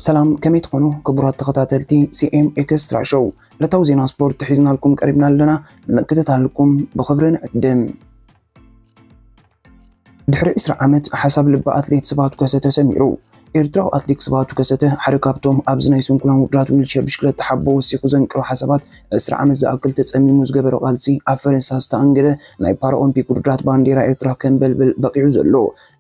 ሰላም ከመይ ትኾኑ ክቡራት ተኸታተልቲ ሲኤም ኤክስትራ ሾው ዕለታዊ ዜና ስፖርት ሒዝናልኩም ቀሪብና ኣለና ንምክትታልኩም ብኽብሪ ንዕድም ድሕሪ ዕስራ ዓመት ሓሳብ ልቢ ኣትሌት ስብሃቱ ከሰ ተሰሚሩ። ኤርትራዊ ኣትሌክ ስብሃቱ ከሰተ ሓደ ካብቶም ኣብዚ ናይ ስንኩላን ውድድራት ዊልቸር ብሽክለታ ሓቦ ወሲኹ ዘንቅሮ ሓሳባት ዕስራ ዓመት ዝኣክል ተጸሚሙ ዝገበሮ ቃልሲ ኣብ ፈረንሳ ዝተኣንገደ ናይ ፓራኦምፒክ ውድድራት ባንዴራ ኤርትራ ከንበልብል በቒዑ ዘሎ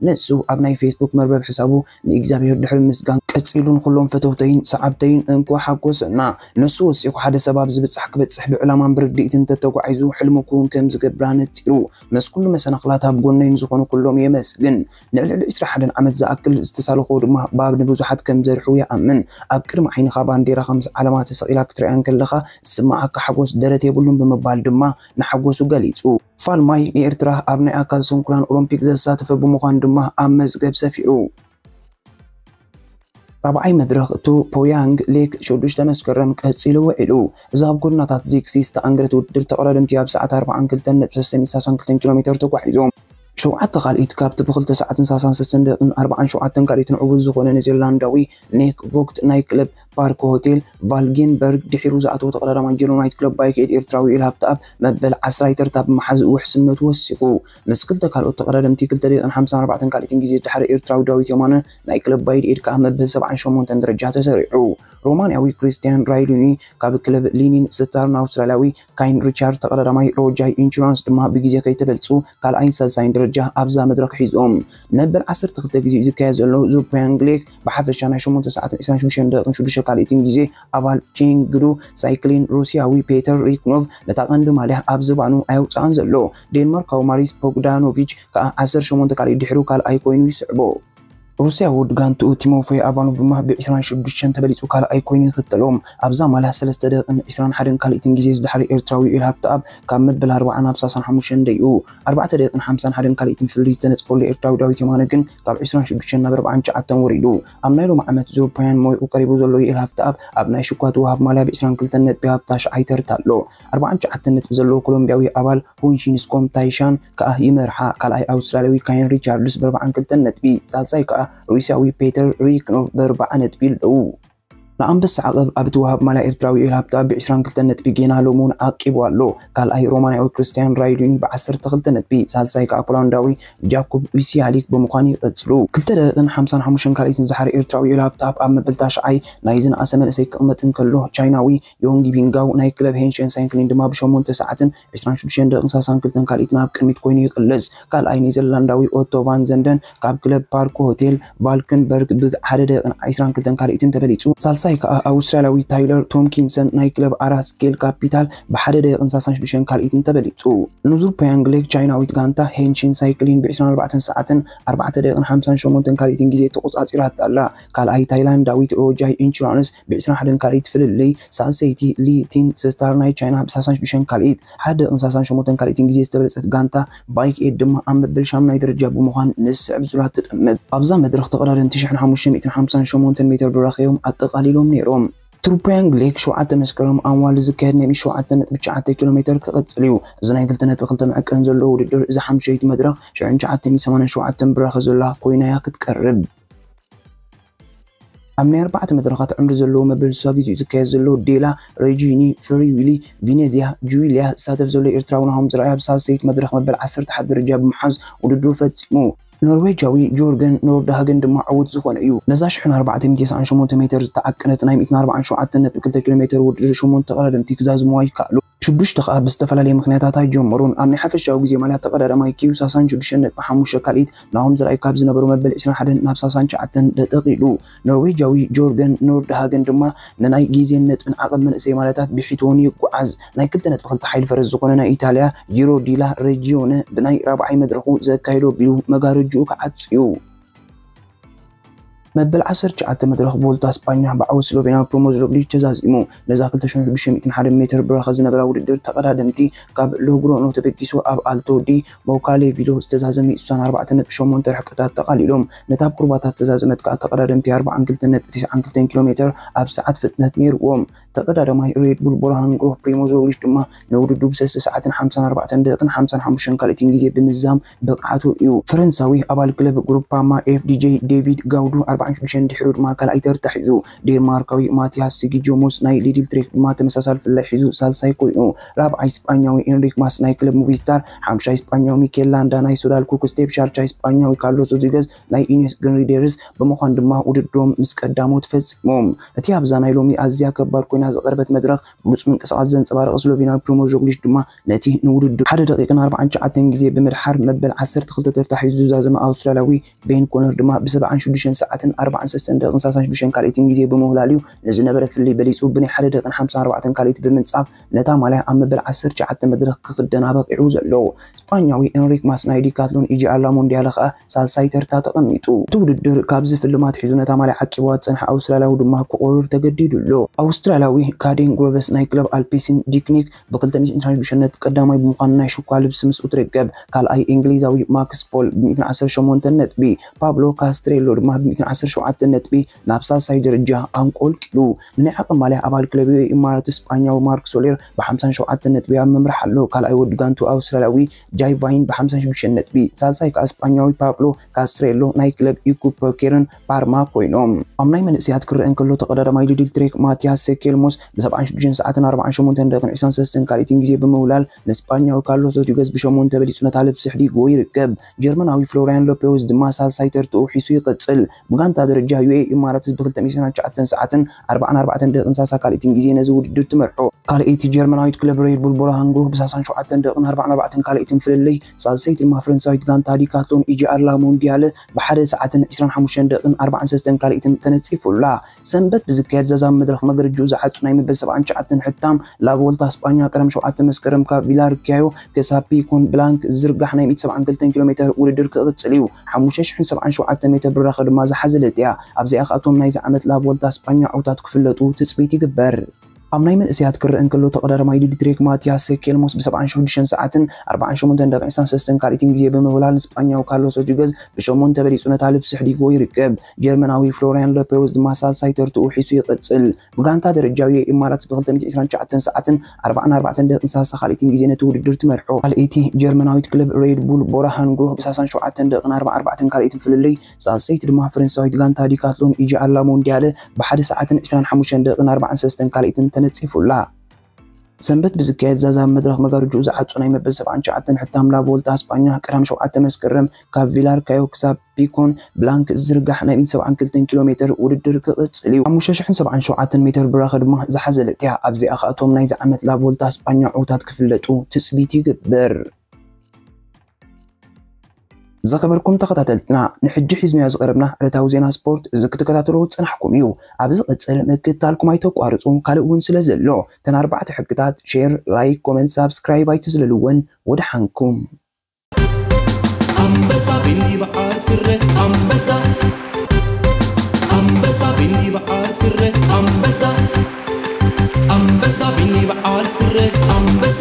ንሱ ኣብ ናይ ፌስቡክ መርበብ ሕሳቡ ንእግዚኣብሄር ድሕሪ ምስጋን ቀጺሉ ንኹሎም ፈተውተይን ሰዓብተይን እንኳዕ ሓጎሰና ንሱ ወሲኹ ሓደ ሰብ ኣብዚ ብጻሕ ክበጽሕ ብዕላማን ብርድኢትን እንተተጓዒዙ ሕልሙ ክውን ከምዝገብር ኣነጺሩ። ምስ ኩሉ መሰናኽላት ኣብ ጎነይ ንዝኾኑ ኩሎም የመስግን። ንልዕሊ ዕስራ ሓደን ዓመት ዝኣክል ዝተሳለኽዎ ድማ ባብ ንብዙሓት ከም ዘርሑ ይኣምን። ኣብ ቅድሚ ዓይንኻ ባንዴራኻ ምስ ዓለማ ተሰቒላ ክትርእያ እንከለኻ ዝስምዓካ ሓጎስ ደረት የብሉን ብምባል ድማ ንሓጎሱ ገሊጹ። ፋልማይ ንኤርትራ ኣብ ናይ ኣካል ስንኩላን ኦሎምፒክ ዘሳተፈ ብምዃኑ ድማ ኣብ መዝገብ ሰፊሩ። ራብዓይ መድረኽ ቱ ፖያንግ ሌክ ሽዱሽተ መስከረም ቀጺሉ ውዒሉ። እዚ ኣብ ጎደናታት ዚግሲ ዝተኣንገደ ውድድር ተቐዳደምቲ ኣብ ሰዓት ኣርብዓን ክልተን ነጥቢ ሰሰን ይሳሳን ክልተን ኪሎ ሜተር ተጓዒዞም። ሸውዓተ ካልኢት ካብቲ ብክልተ ሰዓትን ሳሳን ሰሰን ደቕን ኣርብዓን ሸውዓተን ካልኢትን ዕዉት ዝኾነ ኔዘርላንዳዊ ኔክ ቮግት ናይ ክለብ ፓርክ ሆቴል ቫልጌንበርግ ድሒሩ ዝኣተወ ተቐዳዳማይ ጀርመናዊት ክለብ ባይክ ኤድ ኤርትራዊ ኤል ሃብተኣብ መበል ዓስራይ ተርታ ብምሓዝ ውሕስነቱ ወሲኹ። ምስ ክልተ ካልኦት ተቐዳደምቲ ክልተ ደቂቕን ሓምሳን ኣርባዕተን ካልኢትን ግዜ ዝደሓረ ኤርትራዊ ዳዊት የማነ ናይ ክለብ ባይድ ኤድ ከኣ መበል ሰብዓን ሸሞንተን ደረጃ ተሰሪዑ። ሮማንያዊ ክሪስትያን ራይሉኒ ካብ ክለብ ሊኒን ስተርን ኣውስትራልያዊ ካይን ሪቻርድ ተቐዳዳማይ ሮጃይ ኢንሹራንስ ድማ ብግዜ ከይተበልጹ ካልኣይን ሳልሳይን ደረጃ ኣብዛ መድረኽ ሒዞም። መበል ዓሰርተ ክልተ ግዜ'ዩ ዝካየድ ዘሎ። ዙርፕያን ግሌክ ብሓፈሻ ናይ ሸሞንተ ሰዓትን ዕስራን ሽዱሽተን ደቂቕን ሽዱሽተ ካልኢትን ግዜ ኣባል ቼንግዱ ሳይክሊን ሩስያዊ ፔተር ሪክኖቭ ነታ ቀንዲ ማልያ ኣብ ዝባኑ ኣየውጽኣን ዘሎ። ዴንማርካዊ ማሪስ ቦግዳኖቪች ከኣ ዓሰርተ ሸሞንተ ካልኣይ ድሕሩ ካልኣይ ኮይኑ ይስዕቦ። ሩስያዊ ወዲ ጋንትኡ ቲሞፌይ ኣቫኖቭ ድማ ብ ዕስራን ሽዱሽተን ተበሊጹ ካልኣይ ኮይኑ ይኽተሎ። ኣብዛ ማላህ ሰለስተ ደቂቕን ዕስራን ሓደን ካልኢትን ግዜ ዝደሓረ ኤርትራዊ ዩኤል ሃብተኣብ ካብ መበል ኣርብዓ ናብ ሳሳን ሓሙሽተን ደይቡ። ኣርባዕተ ደቂቕን ሓምሳን ሓደን ካልኢትን ፍልልይ ዝተነጽፈሉ ኤርትራዊ ዳዊት የማነ ግን ካብ ዕስራን ሽዱሽተን ናብ ኣርብዓን ትሽዓተን ወሪዱ። ኣብ ናይ ሎሚ ዓመት ዙር ፓያን ሞይኡ ቀሪቡ ዘሎ ዩኤል ሃብተኣብ ኣብ ናይ ሽኳቱ ወሃብ ማልያ ብ ዕስራን ክልተን ነጥቢ ኣብ ታሽዓይ ተርታ ኣሎ። ኣርብዓን ትሽዓተን ነጥቢ ዘለዎ ኮሎምብያዊ ኣባል ሆንሺንስኮም ታይሻን ከኣ ይመርሓ። ካልኣይ ኣውስትራልያዊ ካየን ሪቻርድስ ብኣርብዓን ክልተን ነጥቢ፣ ሳልሳይ ከኣ ሩስያዊ ፔተር ሪክኖቭ ብኣርብዓ ነጥቢ ኣለዉ። ንኣንበሳ ዓቐብ ኣብ እትወሃብ ማልያ ኤርትራዊ ዮኤል ሃብታ ብዕስራን ክልተን ነጥቢ ጌና ሎሚ'ውን ዓቂቡ ኣሎ። ካልኣይ ሮማንያዊ ክርስትያን ራይዱኒ ብዓሰርተ ክልተ ነጥቢ፣ ሳልሳይ ከኣ ፖላንዳዊ ጃኩብ ዊሲያሊክ ብምዃን ይቕጽሉ። ክልተ ደቂቕን ሓምሳን ሓሙሽተን ካልኢትን ዝሓረ ኤርትራዊ ዮኤል ሃብታ ኣብ መበል ታሽዓይ ናይ'ዚ ነኣሰ መንእሰይ ክቕመጥ እንከሎ፣ ቻይናዊ ዮንጊ ቢንጋው ናይ ክለብ ሄንሸን ሳይንክሊን ድማ ብ ሸሞንተ ሰዓትን ዕስራን ሽዱሽተን ደቂቕን ሳልሳን ክልተን ካልኢትን ኣብ ቅድሚት ኮይኑ ይቕልስ። ካልኣይ ኔዘርላንዳዊ ኦቶ ቫን ዘንደን ካብ ክለብ ፓርክ ሆቴል ቫልክንበርግ ብ ሓደ ደቂቕን ዕስራን ክልተን ካልኢትን ተበሊጹ። ሳልሳይ ከኣ ኣውስትራልያዊ ታይለር ቶምኪንሰን ናይ ክለብ ኣራስ ጌል ካፒታል ብ ሓደ ደቂቕን ሳልሳን ሽዱሽተን ካልኢትን ተበሊጹ። ንዙር ፕያንግ ሌክ ቻይናዊት ጋንታ ሄንሽን ሳይክሊን ብ ዕስራን ኣርባዕተን ሰዓትን ኣርባዕተ ደቂቕን ሓምሳን ሸሞንተን ካልኢትን ግዜ ተቖጻጺራታ ኣላ። ካልኣይ ታይላንዳዊት ሮጃይ ኢንሹራንስ ብ ዕስራን ሓደን ካልኢት ፍልልይ፣ ሳልሰይቲ ሊ ቲን ስታር ናይ ቻይና ብ ሳሳን ሽዱሽተን ካልኢት፣ ሓደ ደቂቕን ሳሳን ሸሞንተን ካልኢትን ግዜ ዝተበለጸት ጋንታ ባይክ ኤድ ድማ ኣብ መበል ሻምናይ ደረጃ ብምዃን ምስ ዝስዕብ ዙላት ትጥምት። ኣብዛ መድረኽ ተቐዳደምቲ ሽሕን ሓሙሽተ ሚእትን ሓምሳን ሸሞንተን ሜትር ዱራኽ እዮም ኣጠቓሊሎም ነይሮም። ትሩፕያንግ ሌክ ሸውዓተ መስከረም ኣዋልድ ዝካየድ ናይ ብ ሸውዓተ ነጥቢ ትሽዓተ ኪሎ ሜተር ክቕጽል እዩ። እዚ ናይ ክልተ ነጥቢ ክልተ መዐቀኒ ዘለዎ ውድድር እዛ ሓምሸይቲ መድረኽ ሽሕን ትሽዓተ ሚእትን ሰማንያን ሸውዓተን ብራኸ ዘላ ኮይና'ያ ክትቀርብ። ኣብ ናይ ኣርባዕተ መድረኻት ዕምሪ ዘለዎ መበል ስሳ ግዜኡ ዝካየድ ዘሎ ዴላ ረጂኒ ፍሪ ዊሊ ቪነዝያ ጁዊልያ ዝሳተፍ ዘሎ ኤርትራዊ ናሆም ዝርኣይ ኣብ ሳልሰይቲ መድረኽ መበል ዓሰርተ ሓደ ደረጃ ብምሓዝ ውድድሩ ፈጺሙ። ኖርዌጃዊ ጆርገን ኖርዳሃገን ድማ ዕዉት ዝኾነ እዩ። ነዛ ሽሕን ኣርባዕተ ሚእቲ ተስዓን ሸሞንተ ሜተር ዝተዓቀነት ናይ ሚእትን ኣርባዓን ሸውዓተን ነጥቢ ክልተ ኪሎ ሜተር ውድድር ሸሞንተ ተቐዳደምቲ ክዛዝሙዋ ይከኣሉ። ሽዱሽተ ከኣ ብዝተፈላለየ ምኽንያታት ኣይጀመሩን። ኣብ ናይ ሓፈሻዊ ግዜ ማልያ ተቐዳዳማይ ኪው ሳሳን ሽዱሽተ ነጥቢ ሓሙሽተ ካልኢት ናሆም ዘርኣይ ካብ ዝነበሩ መበል ዕስራን ሓደን ናብ ሳሳን ትሽዓተን ደጠቂሉ። ኖርዌጃዊ ጆርገን ኖርድሃገን ድማ ንናይ ግዜን ነጥብን ዓቐብ መንእሰይ ማልያታት ብሒትወን ይጓዓዝ። ናይ ክልተ ነጥቢ ክልተ ሓይሊ ፈረስ ዝኾነ ናይ ኢታልያ ጂሮ ዲላ ረጂዮነ ብናይ ራብዓይ መድረኹ ዘካየዶ ቢሉ መጋረጅኡ ክዓጹ'ዩ። መበል ዓሰርተ ትሽዓተ መድረኽ ቮልታ ስጳኛ ብዓወት ስሎቬንያዊ ፕሪሞዝ ሮግሊች ተዛዚሙ። ነዛ ክልተ ሽሕ ሽዱሽተ ሚእትን ሓደን ሜትር ብረኸ ዝነበራ ውድድር ተቐዳደምቲ ካብ ሎግሮኖ ተበጊሱ ኣብ ኣልቶ ዲ ሞካሌቪሎ ዝተዛዘመ ሱሳን ኣርባዕተ ነጥቢ ሸሞንተ ርሕቀታት ተቓሊሎም። ነታ ኣብ ኩርባታት ዝተዛዘመት ከኣ ተቐዳደምቲ ኣርባዓን ክልተን ነጥቢ ትስዓን ክልተን ኪሎ ሜተር ኣብ ሰዓት ፍጥነት ነይሩዎም። ተቐዳዳማይ ሬድ ቡል ቡርሃን ግሩህ ፕሪሞዝ ሮግሊች ድማ ንውድድሩ ብ ሰለስተ ሰዓትን ሓምሳን ኣርባዕተን ደቂቕን ሓምሳን ሓሙሽተን ካልኢትን ግዜ ብምዝዛም ብቕዓቱ እዩ። ፈረንሳዊ ኣባል ክለብ ግሩፓማ FDJ ዴቪድ ጋውዱ ኣርባዓን ሽዱሽተን ድሒሩ ድማ ካልኣይ ተርታ ሒዙ። ዴንማርካዊ ማቲያስ ሲጊጆሞስ ናይ ሊድል ትሬክ ድማ ተመሳሳሊ ፍልላይ ሒዙ ሳልሳይ ኮይኑ። ራብዓይ ስጳኛዊ ኤንሪክ ማስ ናይ ክለብ ሙቪስታር፣ ሓምሻይ ስጳኛዊ ሚኬል ላንዳ ናይ ሶዳል ኩክ ስቴፕ፣ ሻልሻይ ስጳኛዊ ካርሎስ ሮድሪገዝ፣ ናይ ኢኔስ ግሪንሪዴርስ ብምዃን ድማ ውድድሮም ምስ ቀዳሞት ፈጺሞም። እቲ ኣብዛ ናይ ሎሚ ኣዝያ ከባድ ኮይና ዝቐረበት መድረኽ ብሉጽ ምንቅስቓስ ዘንጸባረቐ ስሎቬንያዊ ፕሪሞዥ ሮግሊሽ ድማ ነቲ ንውድድሩ ሓደ ደቒቕን ኣርብዓን ትሽዓተን ግዜ ብምድሓር መበል ዓሰርተ ክልተ ተርታ ሒዙ ዝዛዘመ ኣውስትራልያዊ ቤን ኮነር ድማ ብሰብዓን ሽዱሽተን ሰዓትን ኣርብዓን ሰለስተን ደቒቕን ሰላሳን ሽዱሽተን ካልኢትን ግዜ ብምውህላል'ዩ ንዝነበረ ፍልልይ በሊጹ ብናይ ሓደ ደቒቕን ሓምሳን ኣርባዕተን ካልኢት ብምንጻፍ ነታ ማልያ ኣብ መበል ዓሰርተ ትሽዓተ መድረኽ ክኽደን ኣበቒዑ ዘሎ ስጳኛዊ ኤንሪክ ማስ ናይ ዲካትሎን ኢጂኣላ ሞንድያለ ከኣ ሳልሳይ ተርታ ተቐሚጡ። እቲ ውድድር ካብ ዝፍልም ኣትሒዙ ነታ ማልያ ዓቂብዋ ዝጸንሐ ኣውስትራልያዊ ድማ ክቑርር ተገዲዱ ኣሎ። ኣውስትራልያዊ ካዴን ግሮቨስ ናይ ክለብ ኣልፔሲን ዲክኒክ ብክልተ ሚእትን ዕስራን ሽዱሽተን ነጥቢ ቀዳማይ ብምዃን ናይ ሽኳ ልብሲ ምስ እትርክብ፣ ካልኣይ እንግሊዛዊ ማክስ ፖል ብሚእትን ዓሰርተ ሸሞንተን ነጥቢ፣ ፓብሎ ካስትሬሎ ድማ ብሚእትን ዓሰርተ ሸውዓተን ነጥቢ፣ ናብ ሳልሳይ ደረጃ ኣንቆልቂሉ ንንዕቐ ማልያ ኣባል ክለብ ኢማራት ስጳኛዊ ማርክ ሶሌር ብሓምሳን ሸውዓተን ነጥቢ ኣብ ምምራሕ ኣሎ። ካልኣይ ወዲ ጋንትኡ ኣውስትራልያዊ ጃይ ቫይን ብሓምሳን ሽዱሽተን ነጥቢ፣ ሳልሳይ ከኣ ስጳኛዊ ፓብሎ ካስትሬሎ ናይ ክለብ ኢኩፐኬርን ፓርማ ኮይኖም። ኣብ ናይ መንእሰያት ክረኣ እንከሎ ተቐዳዳማይ ሊድል ትሬክ ማትያስ ሰኬልሞስ ብሰብዓን ሽዱሽተን ሰዓትን ኣርብዓን ሸሞንተን ደቂቕን ዕስራን ሰለስተን ካልኢትን ግዜ ብምውላል ንስጳኛዊ ካርሎስ ሮድሪገዝ ብሸሞንተ በሊጹ ነታ ልብሲ ኣሕዲግዎ ይርከብ። ጀርመናዊ ፍሎርያን ሎፔውዝ ድማ ሳልሳይ ተርትኡ ሒዙ ይቕጽል። ብጋንታ ደረጃ ዩኤኢ ኢማራትስ ብ ክልተ ሚእትን ትሽዓተን ሰዓትን ኣርብዓን ኣርባዕተን ደቂቅን ሳሳ ካልኢትን ግዜ ነዚ ውድድር ትመርሖ። ካልኣይቲ ጀርመናዊት ክለብ ሬድ ቡል ቦረሃን ግሩህ ብ ሳሳን ሸውዓተን ደቂቅን ኣርባዓን ኣርባዕተን ካልኣይትን ፍልልይ፣ ሳልሰይቲ ድማ ፈረንሳዊት ጋንታ ዲካትሎን ኢጂኣር ላ ሞንዲያለ ብ ሓደ ሰዓትን ዕስራን ሓሙሽተን ደቂቅን ኣርባዓን ሰለስተን ካልኢትን ተነጺፉ ኣላ። ሰንበት ብዝካየድ ዛዛሚ መድረኽ መገርጅኡ ዝዓጹ ናይ መበል ሰብዓን ትሽዓተን ሕታም ላቮልታ ስጳኛ ቀዳም ሸውዓተ መስከረም ካብ ቪላርክያዮ ክሳብ ፒኮን ብላንክ ዝዝርጋሕ ናይ ሚእቲ ሰብዓን ክልተን ኪሎ ሜተር ውድድር ክቕጽል እዩ። ሓሙሽተ ሽሕን ሰብዓን ሸውዓተ ሜተር ብራኸ ድማ ዝሓዘለት እያ። ኣብዚኣ ከኣ እቶም ናይዚ ዓመት ላቮልታ ስጳኛ ዕውታት ክፍለጡ ትጽቢት ይግበር። ኣብ ናይ መንእሰያት ክረኣ እንከሎ ተቐዳዳማይ ዲድሪክ ማትያስ ኬልሞስ ብሰብዓን ሸዱሸን ሰዓትን ኣርባዓን ሸሞንተን ደቒቕን ሳሰስትን ካልኢትን ግዜ ብምውላድ ንስጳኛዊ ካርሎስ ሮድሪገዝ ብሸሞንተ በሊጹ ነታ ልብሲ ኣሕዲግዎ ይርከብ። ጀርመናዊ ፍሎርያን ሎፐውዝ ድማ ሳልሳይ ተርትኡ ሒሱ ይቕጽል። ብጋንታ ደረጃ ዩኤ ኢማራትስ ብክልተ ሚእትን ዕስራን ትሽዓተን ሰዓትን ኣርባዓን ኣርባዕተን ደቒቕን ሳሰ ካልኢትን ግዜ ነቲ ውድድር ትመርሖ። ካልኣይቲ ጀርመናዊት ክለብ ሬድ ቡል ቦራሃን ግሩህ ብሳሳን ሸውዓተን ደቒቕን ኣርባን ኣርባዕተን ካልኢትን ፍልልይ ሳልሰይቲ ድማ ፈረንሳዊት ጋንታ ዲካትሎን ኢጂ ኣላ ሞንድያለ ብ ሓደ ሰዓትን ዕስራን ሓሙሽተን ደቂቕን ኣርባዓን ሰለስተን ካልኢትን ተነጺፉ ኣላ። ሰንበት ብዝካየድ ዛዛሚ መድረኽ መጋርጅኡ ዝዓጹ ናይ መበል ሰብዓን ትሽዓተን ሕታም ላ ቮልታ ኣስጳኛ ቀዳም ሸውዓተ መስከረም ካብ ቪላርካዮ ክሳብ ፒኮን ብላንክ ዝዝርጋሕ ናይ ሚእትን ሰብዓን ክልተን ኪሎ ሜተር ውድድር ክቕጽል እዩ። ሓሙሽተ ሽሕን ሰብዓን ሸውዓተን ሜተር ብራኸ ድማ ዝሓዘለት እያ። ኣብዚኣ ከኣ እቶም ናይዚ ዓመት ላ ቮልታ ኣስጳኛ ዕውታት ክፍለጡ ትጽቢት ይግበር። ዝኸበርኩም ተኸታተልትና ንሕጂ ሒዝናዮ ዝቐረብና ዕለታዊ ዜና ስፖርት እዚ ክትከታተልዎ ዝጸናሕኩም እዩ። ኣብ ዝቕጽል ምክትታልኩም ኣይተቋርጹ ካልእ ውን ስለ ዘሎ እተን ኣርባዕተ ሕግታት ሼር ላይክ ኮመንት ሳብስክራይብ ኣይትዝለልወን ወደሓንኩም። ኣንበሳ ብይብዓል ስረ ኣንበሳ ኣንበሳ ብይብዓል ስረ ኣንበሳ ኣንበሳ ብይብዓል ስረ ኣንበሳ